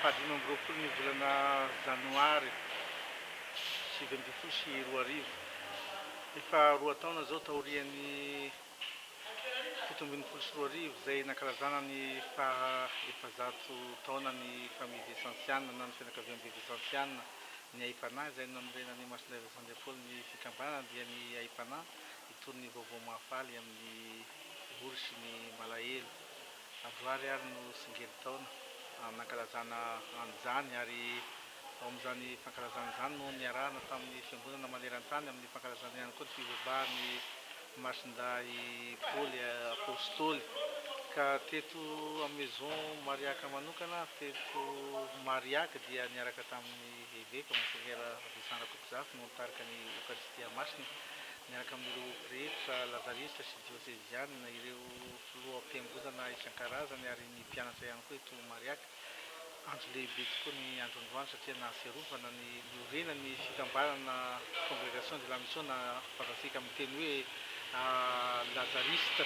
Fahadimy amby roapolo ny volana Janoary sivy ambin'ny folo sy roa arivo. Efa roa taona izao taorian'ny fito ambin'ny folo sy roa arivo izay nankalazana ny faha efajato taonan'ny Famille Vincentiana na ny Fianakaviambe Vincentiana. Ny Aipanahy izay nanorenan'i Masonday Vincent de Paul ny fikambanana dia ny Aipanahy. Toy ny vaovao mahafaly amin'ny ory sy ny malahelo, androany ary no tsingerin-taona nankalazana an'izany ary ao amin'izany fankalazana izany no niarahana tamin'ny fiangonana maneran-tany amin'ny fankalazana ihany koa ny fibebahan'ny Masindahy Paoly Apostoly ka teto amin'ny Maison Mariaque manokana teto Mariaque dia niaraka tamin'ny Eveka Monseigneur Vincent Rakotozafy no nitarika ny Eokaristia Masina Miaraka amin'ireo pretra lazarista sy diosezianina, ireo filoham-piangonana isan-karazany ary ny mpianatra ihany koa eto Mariaca. Andro lehibe tokoa ny andron'androany satria nahatsiarovana ny niorenan'ny fikambanana Congregation de la Mission na fantatsika amin'ny teny hoe lazarista.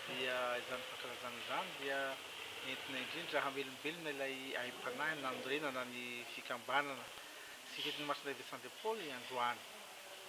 Dia izany fankalazana izany dia entina indrindra hamelombelona ilay aim-panahy nanorenana ny fikambanana sy fetin'ny Masina Evetsandriampaoly androany.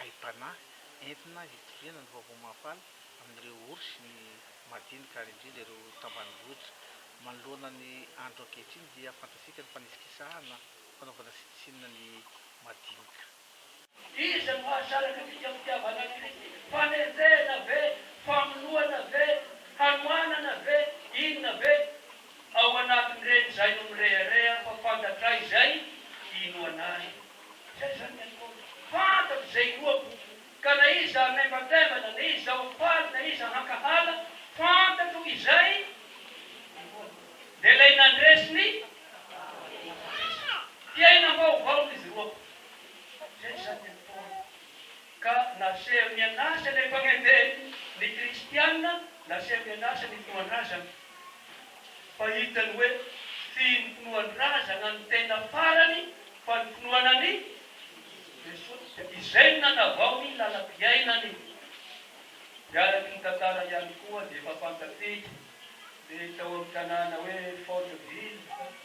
Aim-panahy entina hitoriana ny vaovao mahafaly amin'ireo orsy ny madinika ary indrindra ireo tambanim-bohitra. Manoloana ny andro ankehitriny dia fantatsika ny fanisikisahana fanaovana sitsinina ny madinika. Iza no mahasaraka ny fikam-pitiavanan'i Kristy? Fanenjehana ve? Famonoana ve? Hanoanana ve? Inona ve ao anatin'ireny izay no mirehareha fa fantatray izay inoanay? Zay izany ny ataony. Fantany izay inoako, ka na iza hamaimbataivana, na iza hofaly, na iza hankahala, fantatro izay inoako. Dia ilay nandresy ny batisa, mpiainam-baovao izy roa. Zay izany ny ataony. Ka nasehony an'asa ilay Mpagnendehan'ny Kristiana, nasehony an'asa ny Fomban-drazana. Fa hitany hoe tsy ny finoan-drazana no tena farany fa ny finoana an'i Jesosy. Izay no nanavao ny lalam-piainany. Dia araka ny tantara ihany koa dia efa fantatsika ny tao amin'ny tanàna hoe Folleville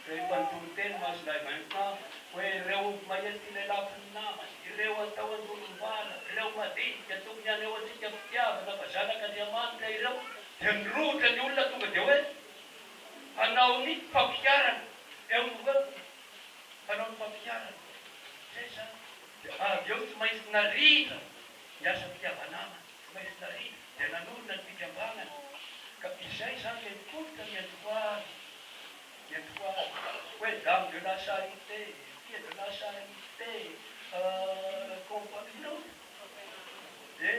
rehefa nitory teny Masindahy Vincent hoe ireo mahery tia lelafo ny namany, ireo atao andorombala, ireo madinika tokony haneho antsika fitiavana fa zanak'Andriamanitra ireo. Dia nirohotra ny olona tonga dia hoe, Hanao ny fampiharana eo no eo, hanao ny fampiharana. Izay izany. Dia avy eo tsy maintsy narindra ny asam-pihavanana, tsy maintsy narindra, dia nanorina ny fikambanana. Ka izay izany ilay tolotra nentim-poahana, nentim-poahana. Hoe Dame de la Charité, Fille de la Charité, Compagnie, hitanao? Dia.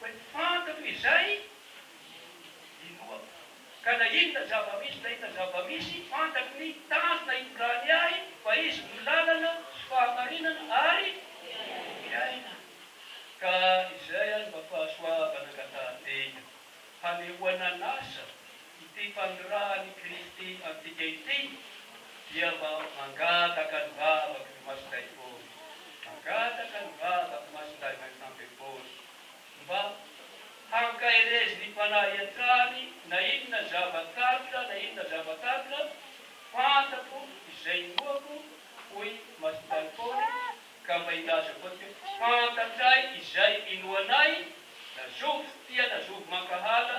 Fa ny fantako izay inoako. Ka na inona zava-misy na inona zava-misy, fantako ny tanjona itondrany ahy, fa Izy no lalana sy fahamarinana ary fiainana. Ka izay ary mba fahasoavana angatahan-tena, hanehoana an'asa Ity fanirahan' i Kristy antsika ity dia mba mangataka ny vavak' ny Masindahy Paoly, mangataka ny vavak' ny Masindahy Vincent de Paul mba hankaherezin' ny Fanahy hatrany na inona zava-karitra na inona zava-karitra fantatro izay inoako, hoy Masindahy Paoly, ka mba ilazako antsika fantatray izay inoanay na zovy tia na zovy mankahala